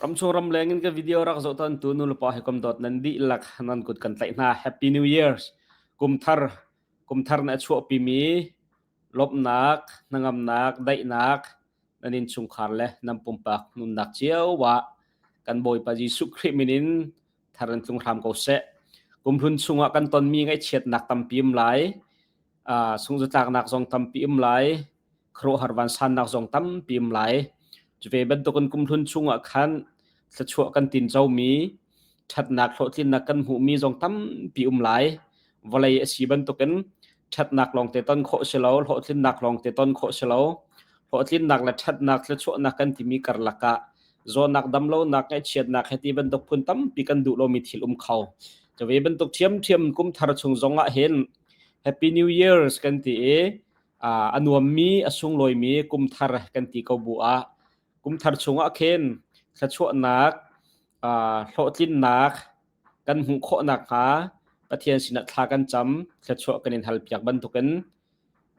Ramchung ramleng in ka video rak zoh ton tu nulepa hi kum dot nan dih lak nan kut kan tlaih hna. Happy New Year's. Kumthar kumthar na chuah pimi lomnak, nangamnak, daihnak nan in chungkhar le nan pumpak nunnak cio wa kan Bawipa Jesuh Khrih minin thar in tlung hram ko seh kumhlun chungah kan tonmi ngaihchiatnak tampi um lai uh, sungzatlaknak zong tampi um lai khuaruahhar vansannak zong tampi um lai cuve bantukin kumhlun chungah khan thlachuah kan tin chomi ṭhatnak hlawhtlinnak kan hmuhmi zong tampi um lai vawlei a si bantukin ṭhatnak lawng te ton khawh si lo, hlawhtlinnak lawng te ton khawh si lo. Hlawhtlinnak le ṭhatnak, thluachuahnak kan timi karlak ah zawnak damlonak ngaihchiatnak he ti bantuk phun tampi kan duh lomi thil um kho. Ca ve bantuk ṭhiamṭhiam kumthar chung zong ah hin Happy New Year's kan ti i a nuammi a sunglawimi kumthar kan ti ko bu ah kumthar chung ah khin thluachuahnak hlawhtlinnak kan hmuh khawh nakhnga Pathian sinah thla kan cam, thluachuah kan in halpiak bantukin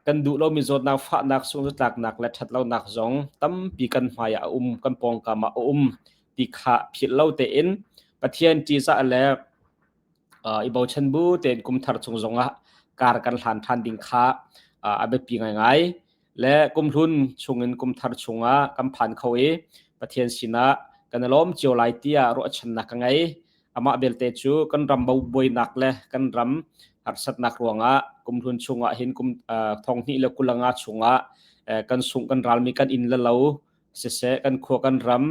kan duh lomi zawtnak, fahnak, sunghzatlaknak le ṭhatlonak zong tampi kan hmaiah a um, kan pawngkam ah a um ti kha philh lo tein Pathian ṭihzah le uh, i bochan bu tein kumthar chung zongah kar kan hlan ṭhan ding kha uh, a biapi ngaingai. le kumhlun chungin kumthar chungah kan phan kho i Pathian sinah kan i lawm cio lai tiah ruahchannak ka ngei amah belte cu kan ram bobuainak le kan ram harsatnak ruangah kumhlun chungah hin kum thonghni le kulanga chungah kan sung kan ralmi kan in le lo siseh kan khua kan ram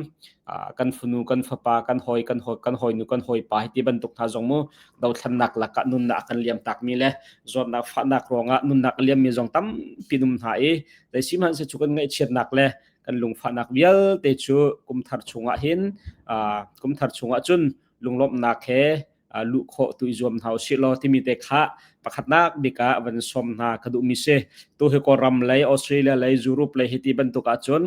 kan funu kan fapa kan hoi kan hoi kan hoi nu kan hoi pa hi ti bantuk hna zong mu dothlannak lakah nunnak kan liam tak mi le zuarnak fahnak ruangah nunnak liam mi zong tampi num hna i dai sim han se chu kan ngaihchiatnak le kan lungfahnak vialte cu kumthar chungah hin kumthar chungah cun lunglawmhnak he luh khawh tu i zuam hna usih law timi te kha pakhatnak bik ah van som hna ka duhmi si tu hi kawlram lei australia lei europe lei hi ti bantuk ahcun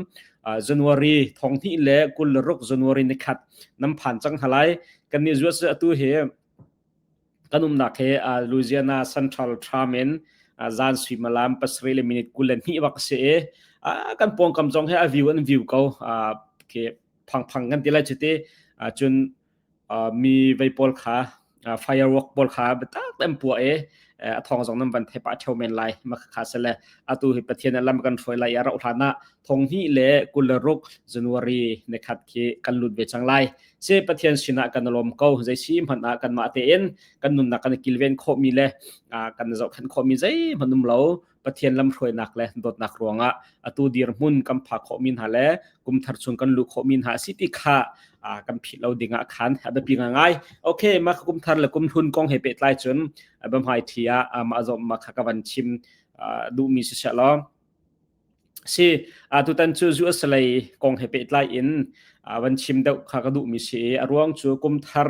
january thong hnih le kul le ruk january ni khat nam phan cang halai kan ni zuwa tu hi kan umnak he louisiana central term in zan suimalam pasarih le minute kul le hnih bak si i kan pawngkam zong he a view an view ko ke phang phang kan ti lai chiti cun mi vei pawl kha firework pawl kha biatak an puah i a thong zong nan van thep ah theo men lai ma kha se le atu hi pathian lam kan hruai lai a rauh hlan ah thong hi le kul le ruk january ne khat khi kan lut ve chang lai se pathian sinah kan lom ko zai si hman ah kan mah te in kan nunnak kan kilven kho mi le kan zoh khan kho mi zei manum lo Pathian lamhruainak le dawtnak ruangah atu dirhmun kan phak khawhmi hna le kumthar chung kan luh khawhmi hna si ti kha kan philh lo dingah khan a biapi ngai okay mah kumthar le kumhlun kong he pehtlai cun bamhai thi ah mah zom ma kha ka van chim duhmi si lo si tutan cu US lei kong he pehtlai in van chim deuh kha ka duh mi si a ruang cu kum thar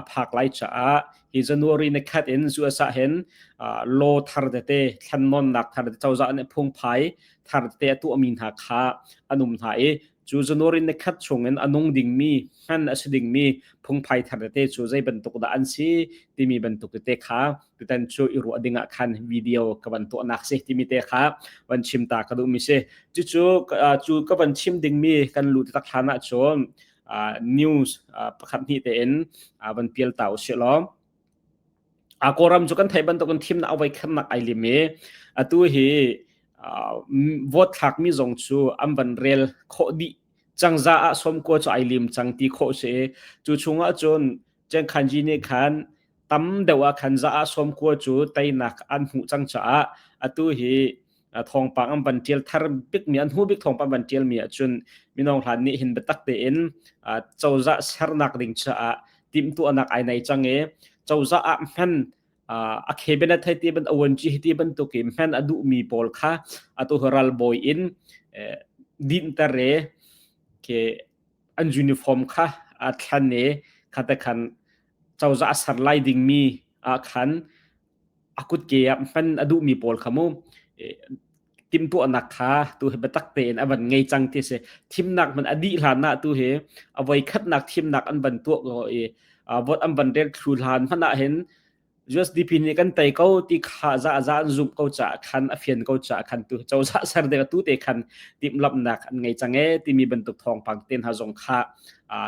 a phak lai caah hi january ne khat in US ah hen lo thar tete thlan non nak thar cozah ne phung phai thar te a tu mi hna kha anum hna i cu January ni khat chungin a nung dingmi ngan a si dingmi phungphai thar tete cu zei bantuk dah an si timi bantuk tete kha tutan cu i ruah dingah khan video ka van tuahnak si timi te kha van chim ta ka duhmi si cucu cu ka van chim dingmi kan lut tak hlanah cun news pakhat hnih te in van pial ta usih law a kawram cu kan thei bantukin thimnak a vaikhamnak ai lim i atu hi vote thlakmi zong cu an van rel khawh dih cang za ah sawmkua cu ai lim cang ti khawh si cu chungah cun Chen Khanji nih khan tam deuh ah khan za ah sawmkua cu teinak an hmuh cang caah atu hi thawngpang an van tial thar bikmi an hnu bik thawngpang van tialmi ahcun minong hlan nih hin biatak tein cozah sernak ding caah timhtuahnak ai nei cang i cozah ah hman a cabinet hei ti ban awan ci ti bantuk i hman a duhmi pawl kha atu ral bawi in dinter e ke an uniform kha a thlan e khate khan cozah a ser lai dingmi ah khan a kutke ah hman a duhmi pawl kha mu timtuahnak kha tu hi biatak tein a van ngei cang ti si thimnak man a dih hlan ah tu hi a voi khatnak thimnak an van tuah ko i vot an van rek thlu hlan hman ah hin USDP nih kan tei ko ti kha za za an zumh ko ca khan a fian ko ca khan tu cozah ser de tu te khan tim lapnak an ngei cang e timi bantuk thong pang ten ha zong kha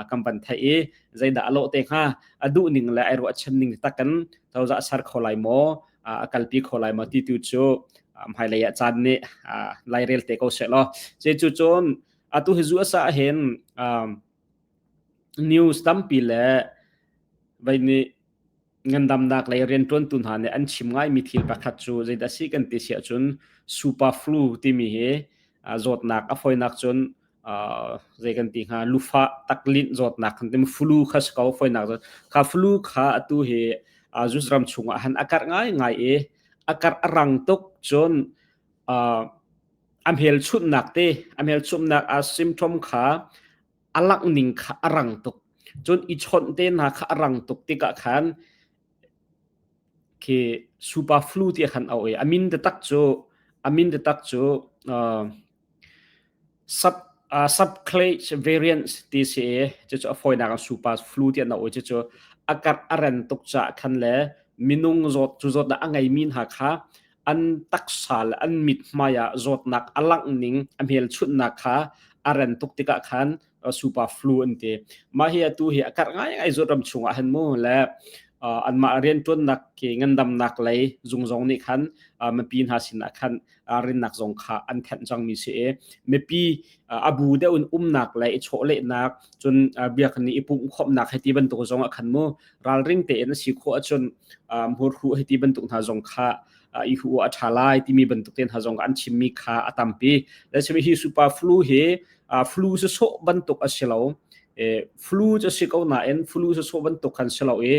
kan van thai i zeidah alo te hnga a duh ning le ai ruah chem ning takkan cozah ser kho lai maw a kalpi kho lai maw ti tu cu hmailei ah caan nih lairel te ko se law ce cu cun atu hi zu asa hin news tampi le vai nih ngandamnak lei rian tuan tu hna nih an chim ngai mi thil pakhat cu zei dah si kan ti sia cun super flu timi hi zawtnak a foinak cun zei kan ti hnga lufa taklinh zawtnak kan ti flu kha si ko foinak zawt kha flu kha atu hi jus ram chungah han akar ngai ngai e akar arang tuk cun amhel chunnak te amhel chumnak a symptom kha alak ning kha arang tuk cun i chon te na kha arang tuk tika khan khi super flu ti khan au e amin de tak chu amin de tak chu Subclage variants ti a si i cucu a fawinak ah super flu ti an auh i cucu a karh a ren tuk caah khan le minung zawt cu zawtnak a ngeimi hna kha an taksa le an mithmai ah zawtnak a langh ning a hmelchunhnak kha a ren tuk tikah khan super flu an ti mah hi atu hi a karh ngai zut ram chung ah han mu le anmah riantuannak ke ngandamnak lei zungzong nih khan mipi hna sin ah khan rinnak zong kha an khenh cang mi si e mipi abu deuh in umnak le i chawlehnak cun biak ni i pum khomnak heti bantuk zong a khan mu ralring te in si kho achun mur hu heti bantuk hna zong kha i hu a tha lai timi bantuk ten ha zong an chim mi kha atampi le chimi hi super flu hi flu cu sawh bantuk a si lo flu cu si ko nain flu cu sawh bantuk khan si lo i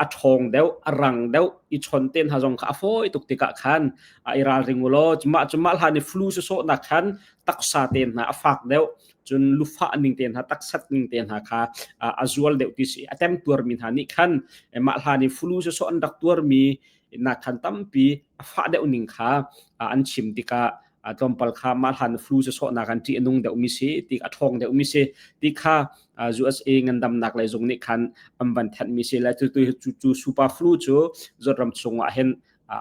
a ṭhawng deuh a rang deuh i chon ten hna zong kha a fawi tuk tikah khan a i ralring u law mah cu mah hlan i flu cu sawhnak khan taksa ten hna a fak deuh cun lufah ning te hna taksat ning te hna kha a zual deuh ti si a tem tuarmi hna nih khan mah hlan i flu cu sawh an rak tuarmi nak khan tampi a fah deuh ning kha an chim tikah a tlawmpal kha ma hlan flu se sawhnak an ti anung deuh mi si ti a thong deuh mi si ti kha USA ngandamnak lei zung nih khan an van than mi si la tu tu tu super flu chu zot ram chung ah hen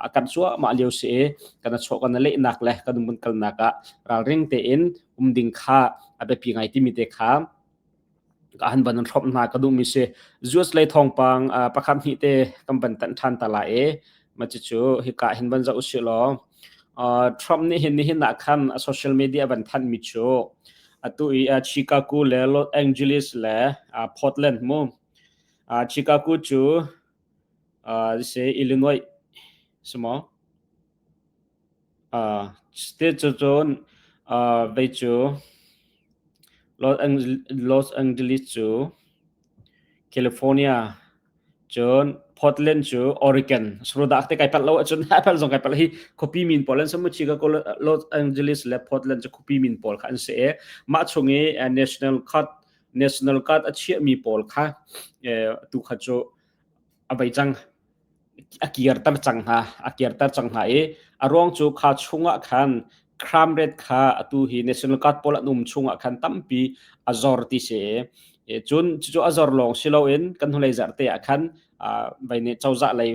a kan suwa ma liu si kana cho kana le nak le kan mun kal nak a ral ring te in um ding kha a be pi ngai ti mi te kha ka han van throp hna ka duhmi si US lei thawngpang pakhat hnih te kan van tanh than ta la e ma chi cu hika hin van za usi law Trump nih hin nihin ah khan a social media van thanh mi cu atu i Chicago le Los Angeles le Portland mu Chicago cu se Illinois simo Cuticun vei cu Los Angeles cu California cun Portland cu Oregon sarudah te kai palh lo ahcun hi palh zong kai palh hi khuapi min pawl an si maw chiga Los Angeles le Portland cu khuapi min pawl kha an si i mah chung i national card a chiahmi pawl kha tu kha cu a bei cang a kirter cang hna a kirter cang hna i a ruang cu kha chungah khan crime rate kha atu hi national guard pawl an um chungah khan tampi a zor ti si cun cucu a zor lawng si loin kan hnulei zarte ah khan vaine cozah lei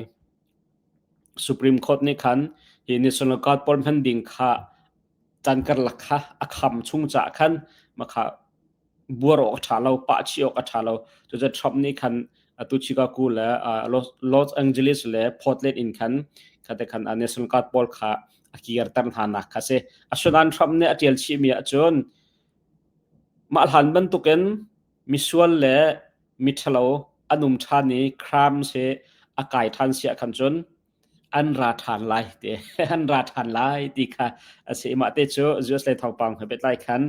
supreme court nih khan hi national guard pawl hman ding kha can karlak kha a kham chung caah khan makha buar awk a ṭha lo, pah chih awk a ṭha lo. Cucu Trump nih khan atu Chicago le Los Angeles le Portland in khan khate khan National Guard pawl kha a kirter hna nak kha si. Asinain Trump nih a ṭial chihmi ahcun mah hlan bantukin misual le miṭhalo an um ṭhan i crimes hi a kai ṭhan si ah khan cun an ra ṭhan lai ti an ra ṭhan lai ti kha a si mah te cu US le thawngpang he beitlai khan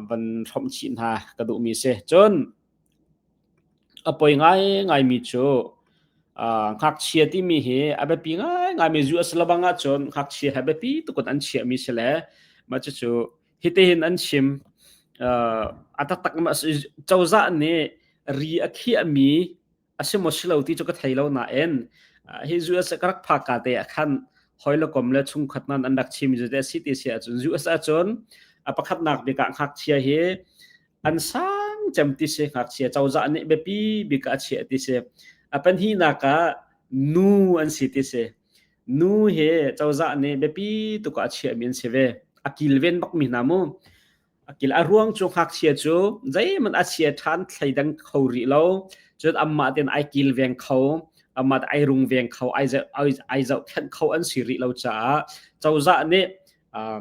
van hrawm chih hna ka duhmi si cun a poi ngai ngaimi cu ngakchia timi hi a biapi ngai ngaimi US labang ahcun ngakchia he biapi tukun an chiahmi si le mah cucu hitihin an chim a taktak cozah nih ri a khiahmi a si maw si lo ti cu ka thei lo nain hi US ka rak phak ka te ah khan hoi le kom le chungkhat nan an rak chim zu te si ti si ahcun US ahcun a pakhatnak bik ah ngakchia hi an sang cem ti si ngakchia cozah nih biapi bik a chiah ti si a pan hi nak ah nu an si ti si nu hi cozah nih biapi tuk a chiah mi an si ve a kilven bak mi hna mu A kil a ruang cu ngakchia cu zeihmanh a chia ṭhan thleidang kho rih lo. Cun amah tein ai kilveng kho, amah tein ai rungveng kho, ai zoh, ai, ai zohkhenh kho an si rih lo caah cozah nih uh,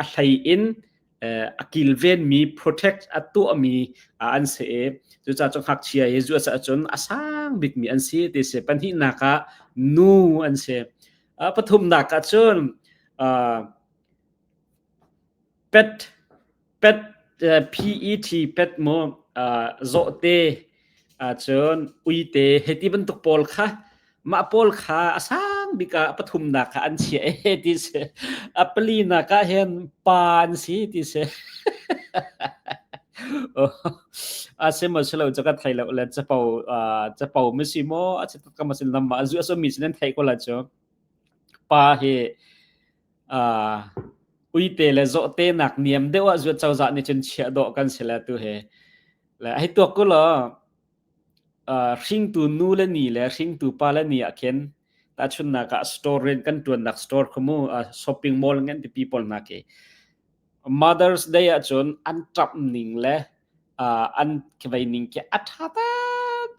a hlei in uh, a kilvenmi protect a tuahmi uh, an si i cucaah cu ngakchia hi zu a cun a sang bikmi an si ti si pahnihnak ah nu an si uh, pathumnak ah cun uh, PET PET mu zawhte ahcun uite hiti bantuk pawl kha mah pawl kha a sang bik ah pathumnak ah an chiah e ti si a palinak ah hin pa an si ti si a si mo si lo ca ka thei lo le capo capo ma si mo a si ka masin lam ma a zu a sawmi sin an thei ko la cu pa hi uite le zawhte nak niam deuh ah zuat cozah nih cun chiah dawh kan si le tu he le hei tuak ku law hringtu nu le ni le hringtu pa le ni ah khin tachunnak ah store ren kan tuannak store khumu shopping mall ngan ti people na ke Mother's Day ah cun an tap ning le an kivai ning ke atha ta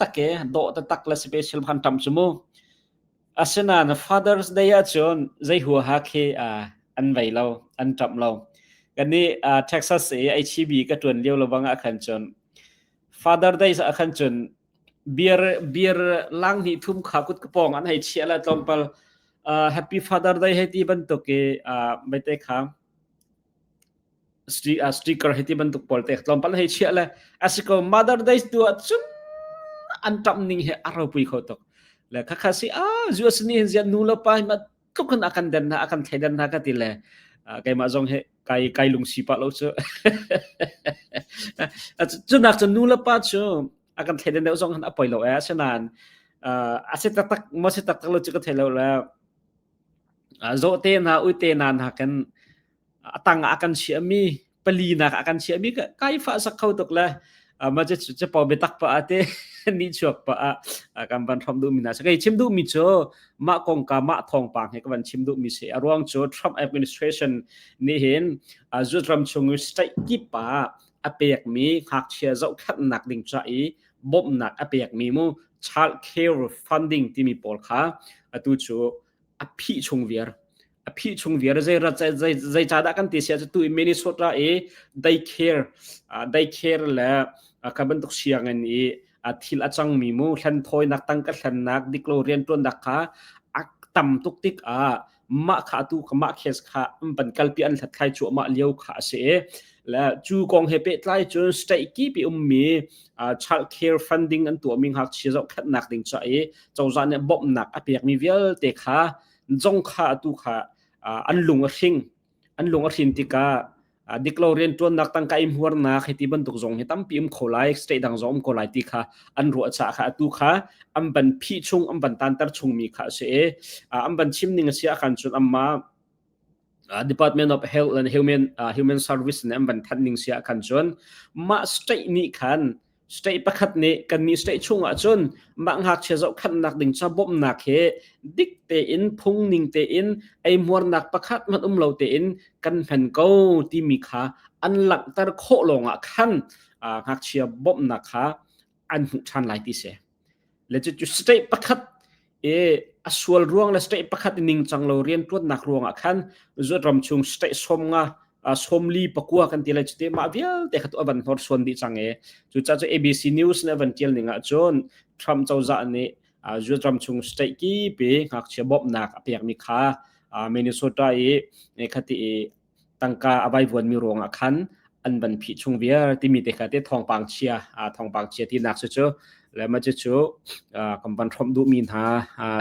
take do ta tak le special phan tam sumu Asinain Father's Day ahcun zei huaha khi uh, an vei lo, an ṭap lo. Kan nih uh, Texas i HEB ka ṭuan lio lebang ah khan cun Father Day ah khan cun beer beer lang hnih thum kha kut kapong an hei chia la tlawmpal uh, Happy Father Day hei ti bantuk i uh, maite kha sticker hi ti bantuk pawl tek tlawmpal hei chiah le asiko mother days tu ah cun an tam ning he a ropui kho tuk le khakha si a zu asni hin zian nu lo pa ma tuk kan akan den na akan thai den na ka ti le keimah zong he kai kai lung si pa lo chu chu nak chu nu le pa chu akan thai den deu zong han apoi lo e senan a se tak tak mo se tak tak lo chu ka thai lo le zawhte hna uite hna nakin atang ah akan chiahmi pali nak akan chiahmi kai fa sak kho tuk le ma che che po mi tak pa ate ni chuak pa a kan ban thom du mi na sakai chim du mi chu ma kong ka ma thong pa he kan chim du mi se aruang chu Trump administration ni hin zut ram chung state ki pa apek mi ngak chia zo khat nak ding cha i bawmhnak a pekmi mu childcare funding timi pawl kha atu cu a phih chung viar a phih chung viar zeirat zei dah kan ti sia cu tu Minnesota i daycare daycare le ka bantuk siangin i thil a cangmi mu thlen thawinak tang ka thlennak dik lo rian tuannak kha a tam tuk tik ah mah kha tu kha mah kes kha an van kalpi an hlat khai cuahmah lio kha a si la cu kong he pe tlai cun state ki pi um mi child care funding an tuah mi hak chia zo khat nak ding cha i chawza ne bom nak a pek mi vialte kha zong kha tu kha an lung a hring an lung a hrin tikah uh, dik lo riantuannak tangka i hmuarnak hi ti bantuk zong hi tampi um kho lai state dang zong um ko lai ti kha an ruah cha kha atu kha an ban phi chung an ban tantar chung mi kha se e uh, an ban chim ning sia khan chun amma uh, Department of Health and Human uh, Human Service ne an ban than ning sia khan chun ma state ni khan State pakhat nih kannih state chung ahcun mah ngakchia zohkhanhnak ding ca bawmhnak hi dik tein phungning tein eihmuarnak pakhat hmanh um lo tein kan hman ko timi kha an langhter khawh lawngah khan ngakchia bawmhnak kha an hmuh ṭhan lai ti si. Legit cu state pakhat i a sual ruang le state pakhat i ningcang lo riantuannak ruangah khan zuat ram chung state somnga somli pakua kan ti lai cu te mah vialte kha tu avan hnor suan dih cang e cu ca cu ABC News ne avan tial ning ah cun Trump cozah nih zuat ram chung state ki pe ngakchia bawmnak a pekmi kha Minnesota i khati i tangka a vaivuanmi ruangah khan an van phih chung viar timi te kha te thawngpang chia thawngpang chia ti nak cu cu le ma cu cu kan van hromh duh mi hna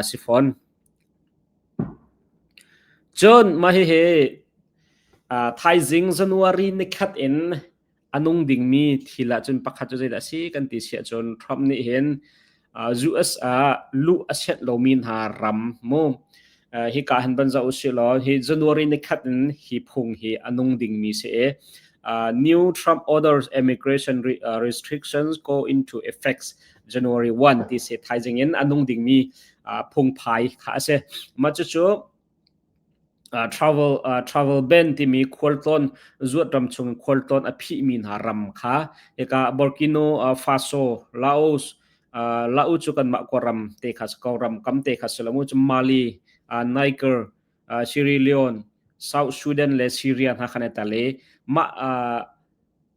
si fawn cun mah hihi thaizing january ni khat in a nung dingmi thil ahcun pakhat cu zeidah a si kan ti si ahcun Trump nih hin US ah luh a sianh lomi hna ram mu hi ka han ban zau si law hi January ni khat in hi phung hi a nung dingmi si e uh, new Trump orders immigration re, uh, restrictions go into effects January 1 ti se thaizing in anung dingmi uh, phung phai kha ase ma chu chu travel ban timi khualtlawn zuatram chung khualtlawn a phihmi hna ram kha hika Burkina Faso Laos Laos cu kanmah khua ram te kha si ko ram kam te kha si lo mu cu Mali Niger Sierra Leone South Sudan le Syria hna khan i tel i mah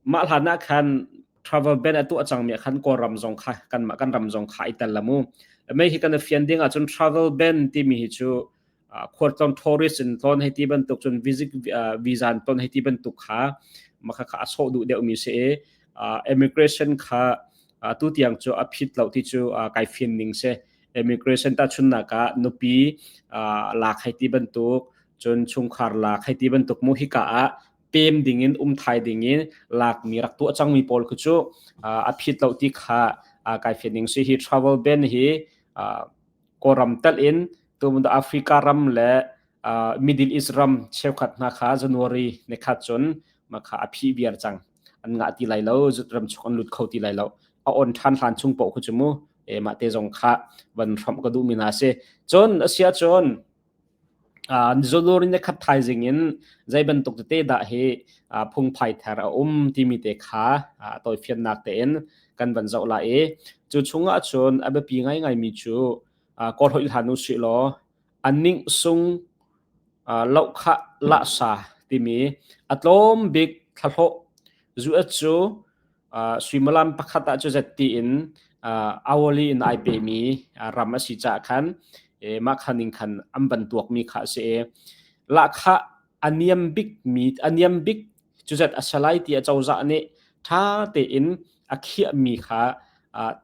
Mah hlan ah khan travel ban a tuah cangmi ah khan Kawlram zong kha kanmah kan ram zong kha i tel la mu. Mei hi kan i fian ding ahcun travel ban timi hi cu khualtlong tourist in ton hei ti bantuk cun visit visa in ton hei ti bantuk kha maka kha a sawh duh deuhmi si i immigration kha tu tiang cu a phit lo ti cu kai fian ning si immigration ta chunnak ah nupi lak hei ti bantuk cun chungkhar lak hei ti bantuk mu hika ah pem dingin umthai dingin lakmi rak tuah cangmi pawl khu cu a phit lo ti kha kai fet ning si hi travel ban hi kawram tal in tumun africa ram le middle east ram cheukhat hna kha january ne khat cun ma kha a phi biar cang an ngah ti lai lo zut ram chok an lut kho ti lai lo a on than hlan chung po khu chu mu e ma te zong kha van ram ka du mina se chon asia chon Zodor in lekhat thaizing in zei bantuk tete dah hi phungphai ther a um timi te kha tawifiannak tein kan van zoh lai i cu chung ahcun a biapi ngaingaimi cu kawl hoih hlan usih law a ning sung lohkhah lahsa timi a tlawm bik thlahlawh zuet cu suimilam pakhat ah cu zet tiin hourly in ai pemi ram a si caah khan mah kha ning khan an van tuakmi kha a si i lahkhah a niam bik mi a niam bik cu zet a salai ti a cozah nih ṭha tein a khiahmi kha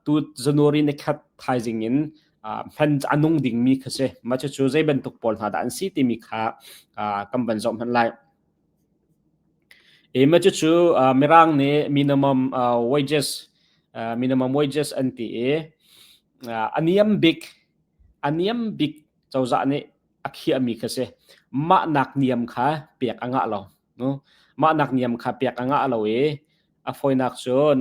tu January ni khat thaizing in hman a nung dingmi kha si mah cu zei bantuk pawl hna dah an si timi kha kan van zoh hmanh lai Ema cucu Mirang nih minimum wages minimum wages an ti i a niam bik a niam bik cozah nih a khiahmi kha si. Mahnak niam kha pek a ngah lo. Mahnak niam kha pek a ngah lo i a fawinak cun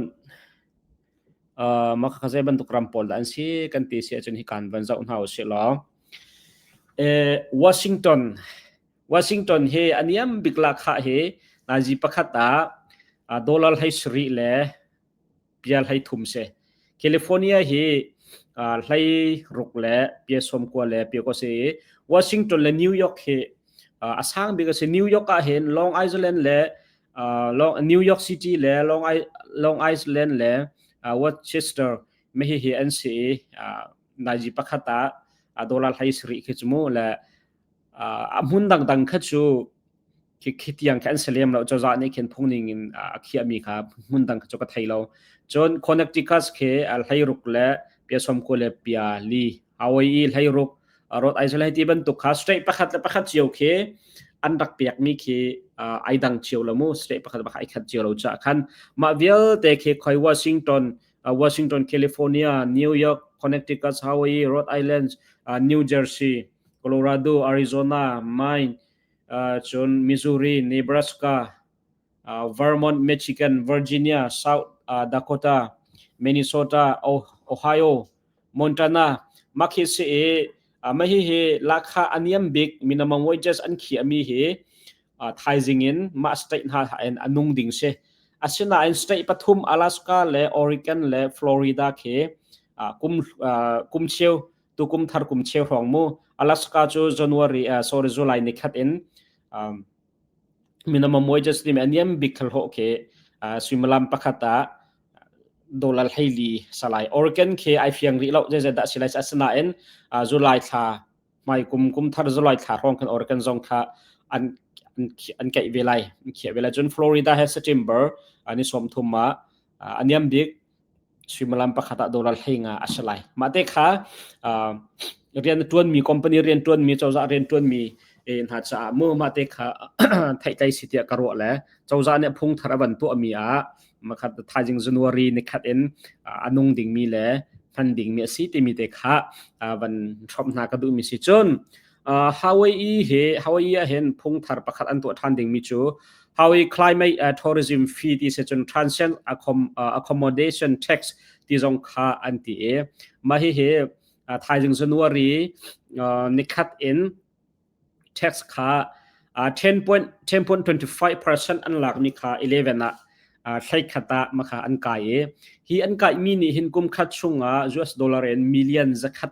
maka zei bantuk ram pawl dah an si kan ti si ahcun hi kaan van zoh hna u sih law Washington Washington he a niam bik lakha hi nazi pakhat ah dollar hlei sarih le pia hlei thum si. California hi hlei ruk le pia sawm kua le pia kua si. Washington le New York hi a sang bik a si. New York ah hin Long Island le Long New York City le Long Long Island le Worcester me hi hi an si nazi pakhat ah dollar hlei sarih khi chu mu le a hmun dangdang kha cu khi tiang kha an si lem lo cozah nih khin phungning in a khiahmi kha hmun dang cu ka thei lo cun connecticus khi hleiruk le pia somku le pia li awei i hleiruk rot ai lai ti bantuk kha straight pakhat le pakhat cio khi an rak pekmi khi ai dang cio lo mu straight pakhat pakhat ai khat cio lo cha khan mah vialte khi khoi Washington Washington California New York Connecticut Hawaii Rhode Island New Jersey Colorado, Arizona, mine cun Missouri, Nebraska, Vermont, Michigan, Virginia, South Dakota, Minnesota, Ohio, Montana mah khi si i mah hihi lahkhah a niam bik minimum wages an khiahmi hi thaizing in mah state hna in a nung ding si. Asinain state pathum Alaska le Oregon le Florida khi kum kum cheu tukum thar kum cheu hrawng mu alaska chu january uh, sorry july ni khat in um, minimum wages ni me aniam big khal ho ke uh, swimalam pakhata dollar heili salai organ ke ai fiang ri lo je je da silai asna in uh, july thla mai kum kum thar july thla hrawng kan organ zong tha an an kai velai khie vela chun florida he september ani som thuma aniam big suimilam pakhat ah dollar hlenga a si lai. Mah te kha uh, rian na tuanmi company rian tuanmi cozah rian tuanmi e hna caah mu ma te kha thai tlai si tia ka ro le cozah ne phung thar avan to mi a makhat thaijing january ni khat in anung ding mi le hman ding mi asi ti mi te kha van throm hna ka du mi si chun Hawaii hi Hawaii ah hin phungthar pakhat an tuah ṭhan dingmi cu Hawaii Climate Tourism Fee ti si cun transient accommodation tax ti zong kha an ti i mah hihi thaizing January nikhat in tax kha 10.25% an lakmi kha 11 ah thleikhat ah makha an kai i hi an kaimi nih hin kum khat chungah US dollar in million zakhat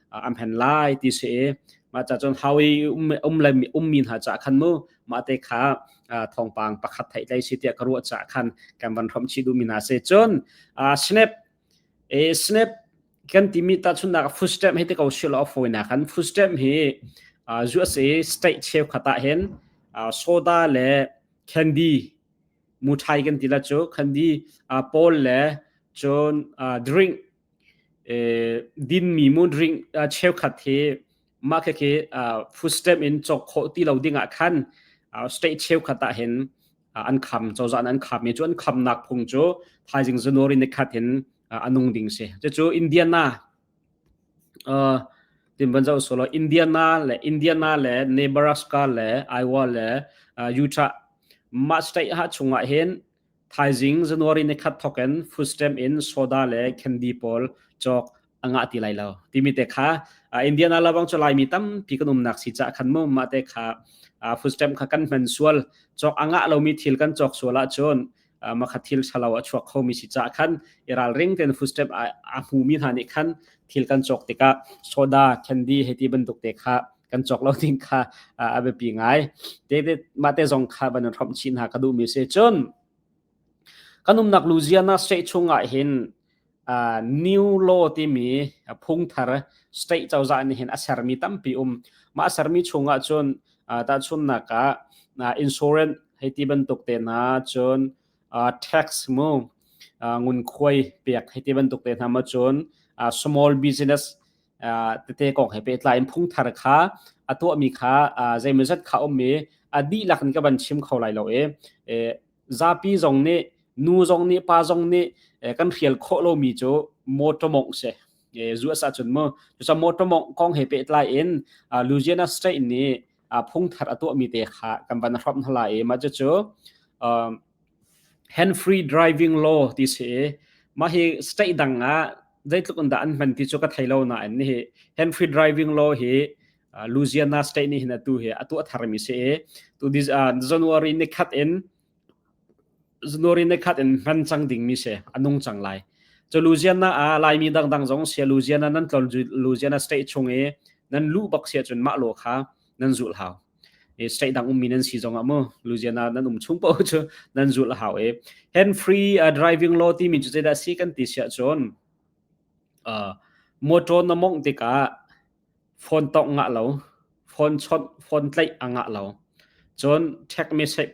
an phen lai ti si i mah ca cun hawi um um le ummi hna ca khan mu mah te kha thawngpang pakhat theih tlai si tiah ka ruah ca khan kan van hrom chi duhmi hna se cun snap e snap kan timi ta chunnak footstep hi te ko sil of foina khan footstep hi zu ase state cheu khata hen soda le candy muthai kan tila chu candy paul le cun drink dinmi mudring cheukhat hi mah khekhi footstep in cawk khawh ti lo dingah khan state cheukhat ah hin an kham cozah an kham i cu an khamnak phung cu thaizing zanwari nikhat hin anung ding si cucu indiana timbanzo solo indiana le indiana le nebraska le iowa le utah mah state ha chungah hin Thaizing January ni khat thokin foodstamp in soda le candy pawl cawk a ngah ti lai lo. Timi te kha uh, Indiana labang cu Laimi tampi kan umnak si ca khan mu mah te kha uh, foodstamp kha kan hman sual cawk a ngah lomi thil kan cawk sual ahcun uh, makhat thil thalo a chuak khomi si ca khan i ralring ten foodstamp a, a hmumi hna nih khan thil kan cawk tikah soda candy heti bantuk te kha kan cawk lo ding kha a biapi ngai David mate zong kha ban rom chi hna ka duh mi se chun kan umnak Louisiana state chungah hin new law timi phungthar state cozah nih hin a sermi tampi um ma sermi chungah cun ta chunnak ah insurance hei ti bantuk te na cun tax mu ngun khuai pek hei ti bantuk te na ma cun small business tete kong he pehtlai in phungthar kha a tuahmi kha zeimawzat kha ummi a dihlak in ka van chim kho lai lo i zapi zong nih nu zong nih pa zong nih kan hrial khawh lomi cu motor mongh si zu asa cun mu cusa motor mongh kong he pehtlai in Louisiana state nih phungthar a tuahmi te kha kan van hrom hla i mah cu Hanfree driving law ti si i mah hi state dang ah zeitluk in dah an hman ti cu ka thei lo nain nihi Hanfree driving law hi uh, Louisiana state nih hin atu hi atu a tharmi si i tu dis, uh, January ni khat in January ni khat in hman cang dingmi si a nung cang lai cu Louisiana ah Laimi dangdang zong sia Louisiana nan tlon Louisiana state chung i nan lu bak sia cun mah lo kha nan zul hau e state dang ummi nan si zongah mu luziana nan um chung po chu nan zul hau e hand free uh, driving law ti min chu zeda si kan ti sia chon uh, motor na mong tika phone tong nga lo phone chon phone tlai anga lo chon tech message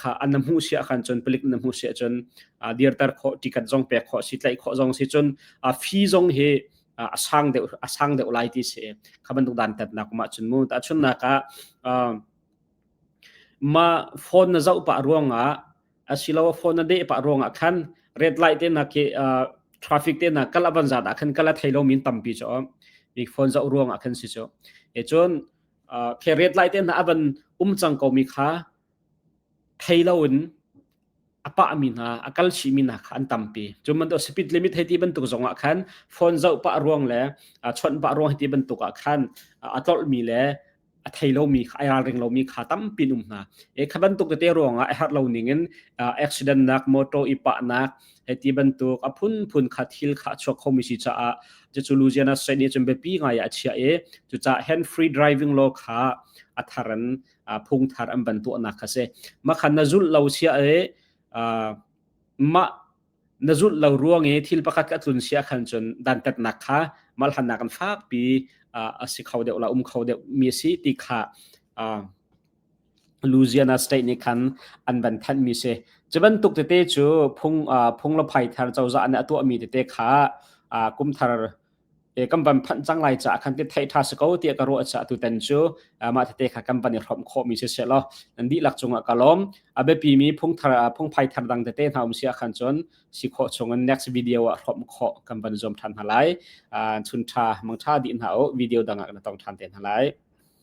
kha an na hmuh si ahkhan cun palik na hmuh si ahcun dirter khawh ticket zong pek khawh si tlaih khawh zong si cun fee zong hi a sang deuh a sang deuh lai ti si kha bantuk dan tat nak ma cun mu ta chun nak ah ma phone na zau pa ruang ah asilo phone na de pa ruang ah khan red light te na ke traffic te na kala ban za da khan kala thailo min tampi cho mi phone zau ruang ah khan si cho e chun pheret lai te hna avan um cang komi kha thei loin a pahmi hna a kal chihmi hna kha an tampi cu bantuk speed limit hei ti bantuk zongah khan phone zoh pah ruang le chawnh pah ruang hei ti bantuk ah khan a tlolhmi le a thei lomi kha a ralring lomi kha tampi um hna e kha bantuk tete ruangah a herh lo ning in accident nak motor i pahnak Eti bantuk a phunphun kha thil kha a chuak khomi si caah cucu Louisiana state nih cun biapi ngai ah a chiah i cucaah hand free driving law kha a thar in phungthar an ban tuahnak kha si makhan na zulh lo sia i mah na zulh lo ruang i thil pakhat ka tlun sia khan cun dantatnak kha malhannak kan fakpi a si kho deuh la um kho deuh mi a si ti kha Louisiana State nih khan an van thanhmi si. Cu bantuk tete cu phung phung le phai thar cozah nih a tuahmi tete kha kum thar kan van phanh cang lai caah khan ti theih ṭha si ko tiah ka ruah caah tutan cu mah tete kha kan van i hrawmh khawhmi si seh law nan dihlak cungah ka lawm. A biapimi phung thar phung phai thar dang tete hna um si ah khan cun si khawh chungin next video ah hrawmh khawh kan van zuam ṭhan hna lai. Chun ṭha mangṭha dih hna u video dangah na tong ṭhan te hna lai.